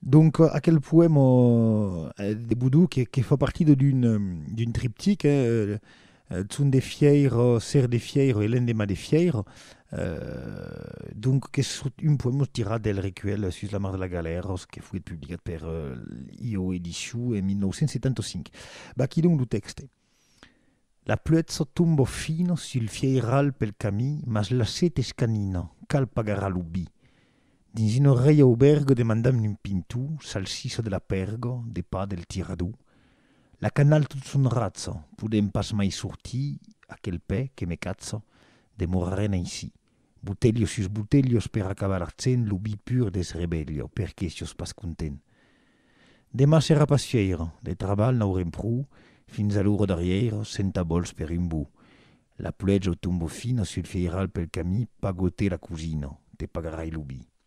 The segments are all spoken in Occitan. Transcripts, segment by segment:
Donc aquel poèma de Boudou que, que fa partida d'un triptic, eh, Son de Fièira, Ser de Fièira e L'endemà de Fièira, eh, donc qu'es un poèma tirat del recuèlh Sus la mar de la galèra que foguèt publicat per IO Edicion en 1975. Vaquí donc lo tèxte. La pluetza tomba fina sul fieiral pel camí, mas la set es canina, cal pagar a lo bi. Dins una rei aubèrga demandam un pintó, salsissa de la pèrga, de pa del tirador. La canal tot son ratza, podèm pas mai sortir, aquel pè que me catza, demorarem aicí. Botelhos sus botelhos per acabar artsen lo bi pur deth rebelho, per qué sios pas content? Demà serà pas fièira, de trabalh n'aurem pro, fins a l'ora darrièira, senta bols per un bo. La pluèja o tombo fina sul fièiral pel camí, pagote la cosina, te pagarai lo bi.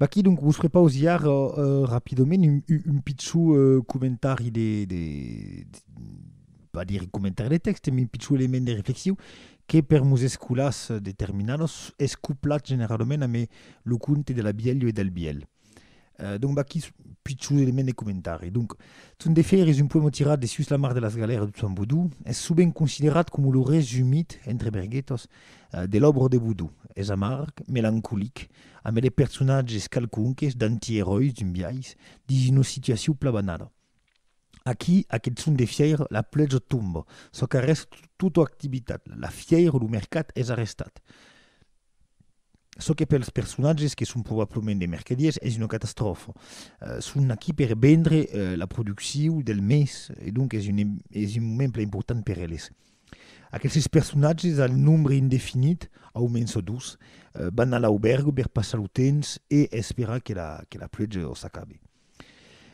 Vaquí, donc, vos fre pausiar rapidament un pichon comentari de... pas dire comentari de tèxte, mès un pichon element de reflexiu, que per mos escolars determinados es coplat generalament amé lo conte de la Bièlh e del Bièlh. Donc, vaquí un pichon element de comentari. Donc, Ton de Fèir es un poèma tirat de sus la mar de las Galèras de Tuan Bodó. Es sovent considerat coma lo resumit, entre berguetas, De l'òbra de Boudou. Es amarg, melancolic, ambe de personatges calconques, d'antièròis d'un biais, dins una situacion plabanada. Aquí, aqueth son de fièira, la pluèja tomba, çò qu'arrèsta tota activitat, la fièira, lo mercat es arrestat. Çò que pels personatges, que son probablement de mercadiers, es una catastròfa. Son aquí per vendre la produccion del mes e donc es un moment plan important per eles. Aqueles personatges al nombre indefinit, au mens o dus, van a l'aubèrga per passar lo temps e esperar que la pluèja o s'acabe.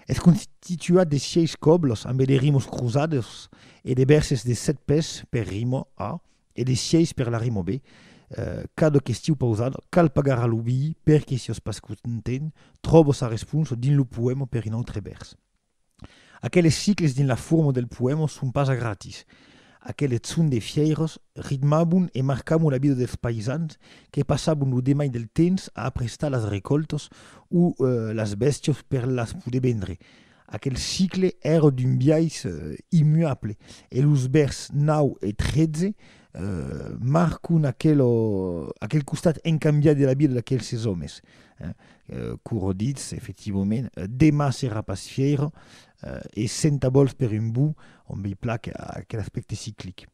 Es constituat de sièis còbles ambe de rimos crosades e de bèrses de sèt pès per rimo A e de sièis per la rimo B. Cada questiu pausada cal pagar a lo vií per que siós pas content, tròba sa responsa dins lo poèma per un autre vèrs. Aqueles cicles dins la forma del poèma son pas a gratis. Aqueles sons de fièiras ritmabon e marcabon la vida dels païsans que passabon lo demai del temps a aprestar las recòltas o las bèstias per las poder vendre. Aquel cicle èra d'un biais immuable e los vèrs 9 e 13 marcon aquel costat incambiat de la vida d'aquelses òmes. Eh? Curo ditz, efectivament, demà serà pas fièira eh, e senta bols per un bou, on b'ei plac aquel aspècte ciclic.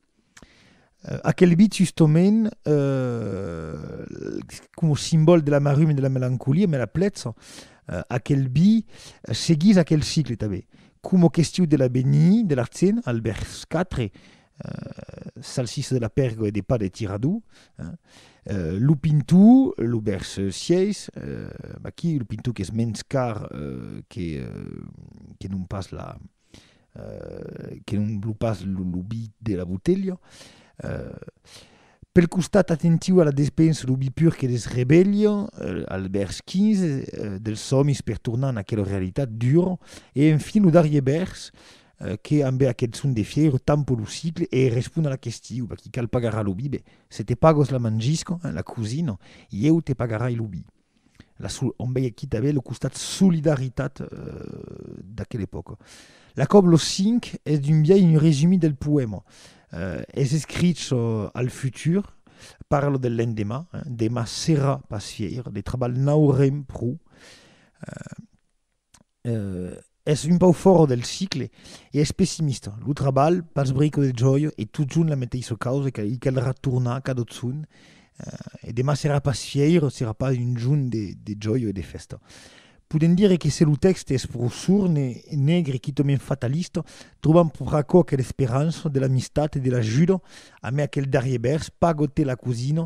Eh, aquel bit, justament, eh, coma simbòl de la marruma e de la melancolia, me la plètz, eh, aquel bi seguís aquel cicle tanben, coma questiu de l'avenir, de l'artzen, al vers 4, Salsissa de la pèrga e de pa de tirador. Lo pintor, lo vèrs 6, aquí lo pintor qu'es mens car que que non pas la que non lo pas lo vi de la botelha. Pel costat atentiu a la despensa lo vi pur que les rebelha al vèrs 15 dels sòmis per tornar en aquela realitat dura e enfin lo darrier vèrs Que ambe aqueth son de fièro tampo lo sicle e respon a la questiu, va qui cal pagar a lo bibe, se te pagos la mangisco, la cosina, ieu te pagarai lo bi. La sol on veie quita be lo costat solidaritat d'aquela epòca. La còp lo cinc es d'un biais un resumi del poèma. Es escrich al futur, parlo del lendemà, demà serà pas fièir, de trabalh n'aurem pro. es un pauc fòra del cicle e es pessimista. Lo trabalh, pas brico de jòia, e totjorn la meteissa causa que i caldrà tornar cada otzon e demà serà pas fièira, serà pas un jorn de, de jòia e de fèsta. Podem dire que se lo tèxte es pro sorn e negre, quitament fatalista, trobam pro aquò aquela esperança de l'amistat e de l'ajuda, amé aquel darrier vèrs, Pago-te la cosina,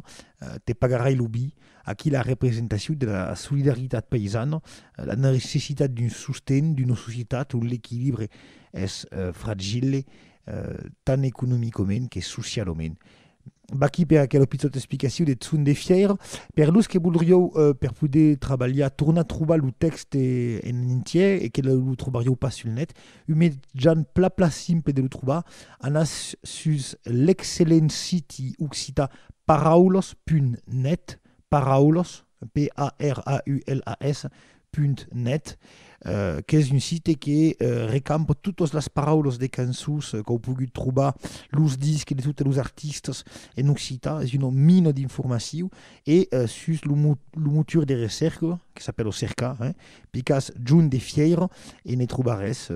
te pagarai lo vi, Aquí la representacion de la solidaritat païsana, la necessitat d'un sosten d'una societat ont l'equilibre es fragile tant economicament que socialament. Vaquí per aquela pichota explicacion deth son de fièira. Per los que volrieu, per poder trabalhar, tornar trobar lo tèxte en entièr e que lo trobarieu pas sul net, Un mejan pla pla simple de lo trobar anatz sus l'excellent siti occitan paraulos.net, paraulos, p a r a u l a s, punt net, qu'es un site que recampa totas las paraulas de cançons qu'au pogut trobar, los disques de totes los artistas en occitan, es una mina d'informacion E sus lo motor de recerca, que s'apèla Cerca, picas John de Fièira e ne trobarès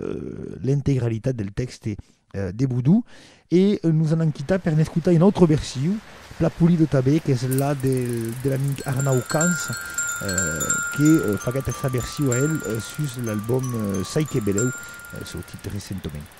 l'integralitat del tèxte de Boudou. E nos anam quitar per n'escotar una autra version, plan polida tanben, qu'es la de l'amic Arnau Cans, que faguèt sa version a el sus l'album Sai que belèu, sortit recentament.